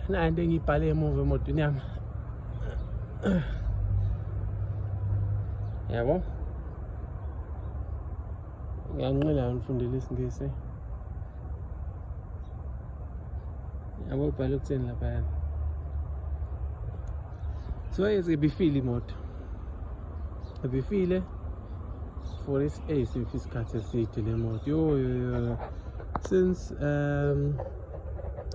nayo into engiyibhale emuva emotweni yami yabo ngiyanqila ngifundele isingisi yabo ibhale ukutheni lapha yana so yezibifile imoto ebifile for its age if isikhathi eside le moto yo yo yo since um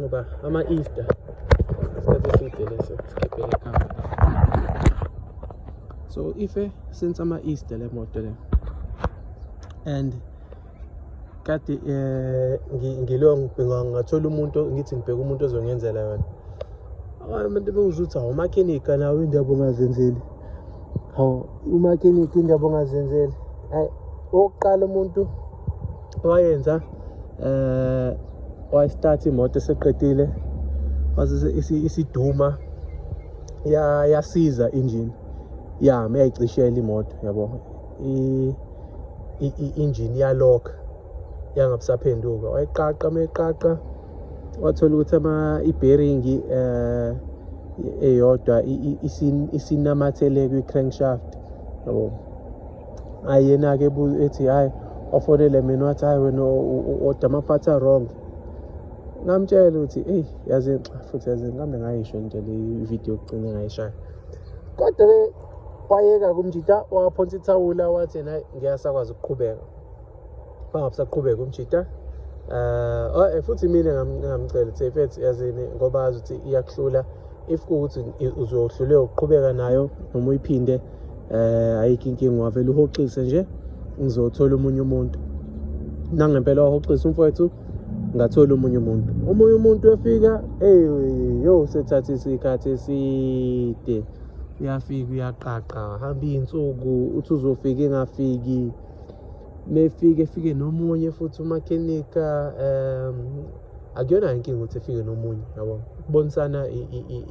ngoba ama Easter isikhathi eside leso sikhiphe le camera so ife eh, since ama Easter le moto le and kade eh ngilo ngibhinga ngathola umuntu ngithi ngibheka umuntu ozongenzela yona abantu bewuzuthi awumakhenika nawe indaba ongazenzeli hawu umakiniki indaba ongazenzeli hayi okokuqala umuntu wayenza um eh, wayistart imoto eseqedile isiduma yasiza injini yami yayicishela imoto yabo i-injini yalokha yangabusaphenduka wayiqaqa uma iqaqa wathola ukuthi ama i-bearing eh eyodwa isinamathele kwi-crankshaft yabo ayena-ke ethi hhayi ofonele mina wathi hhayi wena oda amaphathi a-wrong ngamtshela ukuthi eyi yazi futhi yazi ngihambe ngayisho nje le video yokugcina ngayishaya kodwa-ke wayeka kumjita waphonsa ithawula wathi yena ngiyasakwazi ukuqhubeka bangabusaqhubeka umjita uh, oh, eh, futhi mina ngingamcela ukuthi ifet yazini ngoba azi ukuthi iyakuhlula if kuwukuthi uzohluleka ukuqhubeka nayo noma uyiphinde um ayikho inkinga wavele uhoxise nje ngizothola omunye umuntu nangempela wahoxisa umfowethu ngathola omunye umuntu omunye umuntu uyafika ey yo sethatha isikhathi eside uyafika uyaqaqa hamba iy'nsuku uthi uzofika engafiki mefike efike nomunye futhi umakhenika um akuyona inkinga ukuthi efike nomunye yabo ukubonisana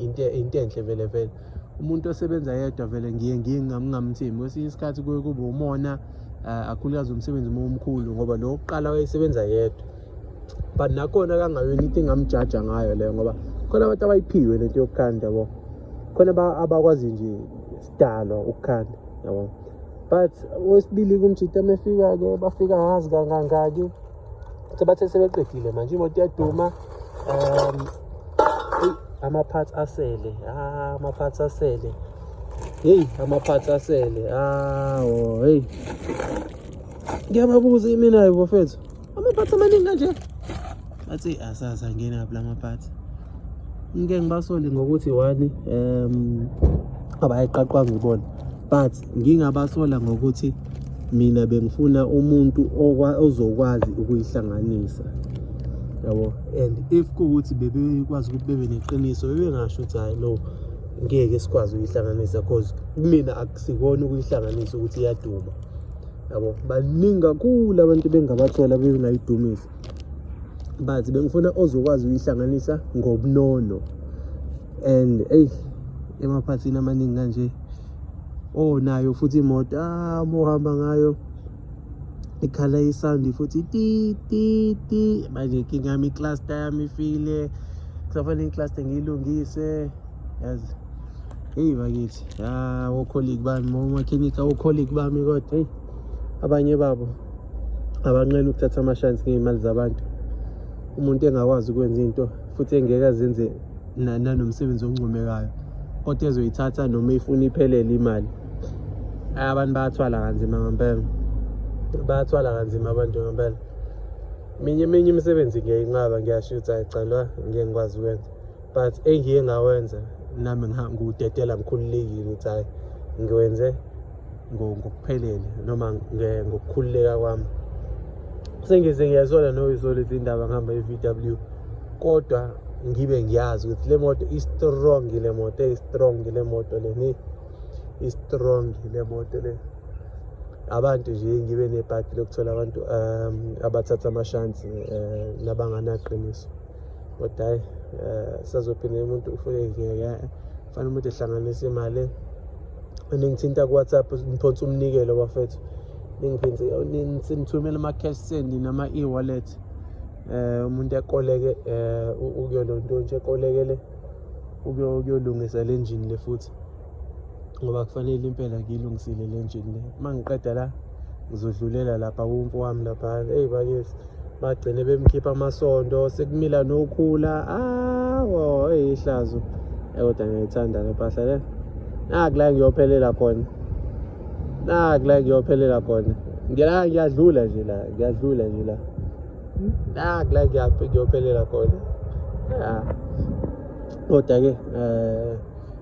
into enhle vele vele umuntu osebenza yedwa vele ngiye ngiye ngingamthembi kwesinye isikhathi kuye kube umona eh, akhulukazi umsebenzi uma umkhulu ngoba lo wokuqala wayesebenza yedwa but nakhona kangayona into engamjaja ngayo leyo ngoba khona abantu abayiphiwe lento yokukhanda bo khona abakwazi nje sidalwa ukukhanda yabo but wesibili kumjita mefika-ke bafika ngazi kangangaki sebathe sebeqedile manje imoto iyaduma um ama-parts asele ah, ama-parts asele heyi ama-parts asele awo heyi ngiyababuza imina-ke bofethu amaphathi amaningi kanje bathi asazi angene kabi la maphathi ngike ngibasole ngokuthi one um abayiqaqwanga ibona but ngingabasola ngokuthi mina bengifuna umuntu ozokwazi ukuyihlanganisa yabo and if kuwukuthi bebekwazi ukuthi bebe neqiniso bebengasho ukuthi hhayi no ngeke sikwazi ukuyihlanganisa cause kumina akusikona ukuyihlanganisa ukuthi iyaduma yabo baningi kakhulu abantu bengabathola bengayidumisa but bengifuna ozokwazi ukuyihlanganisa ngobunono and eyi emaphathini amaningi kanje onayo futhi imoto amohamba ah, ngayo ikhala isandi futhi ti ti ti manje inkinga yami icluster yami ifile kusafanele icluster ngiyilungise yazi Hey bakithi, ya ocolleague bami, omakhenika ocolleague bami kodwa hey abanye babo abanqena ukuthatha amashansi ngey'mali zabantu. Umuntu engakwazi ukwenza into futhi engeke azenze nanomsebenzi oncomekayo kodwa ezoyithatha noma ifuna iphelele imali. Hayi abantu bayathwala kanzima ngempela. Bayathwala kanzima abantu ngempela. Minye eminye imisebenzi ngiyayinqaba ngiyasho ukuthi ayi cha la ngeke ngikwazi ukwenza. but engiye ngawenza nami ngudedela ngikhululekile ukuthi hayi ngiwenze ngokuphelele noma ngokukhululeka kwami sengize ngiyazola noyizola izindaba ngihamba i-v w kodwa ngibe ngiyazi ukuthi le moto i-strong le moto eyi-strong le moto le ni i-strong le moto le abantu nje ngibe nebhadi lokuthola abantu um abathatha amashansi um nabanganaqiniso kodwa hayi um sazophinde umuntu ufike ngeke fanele umuntu ehlanganise imali ningithinta ku-whatsapp niphonsa umnikelo bafethu ningithumele ama-cash send nama-e-wallet um umuntu ekoleke um ukuyolonto nje ekolekele ukuyolungisa le njini le futhi ngoba kufanele impela ngiyilungisile le njini le uma ngiqeda la ngizodlulela lapha kumfo wami lapha eyi bakesi bagcine bemkhipha amasondo sekumila nokhula awo eyi ihlazo kodwa ngiyayithanda le mpahla le naku la ngiyophelela khona naku la ngiyophelela khona ngila ngiyadlula nje la ngiyadlula nje la naku la ngiyophelela khona ah. kodwa-ke um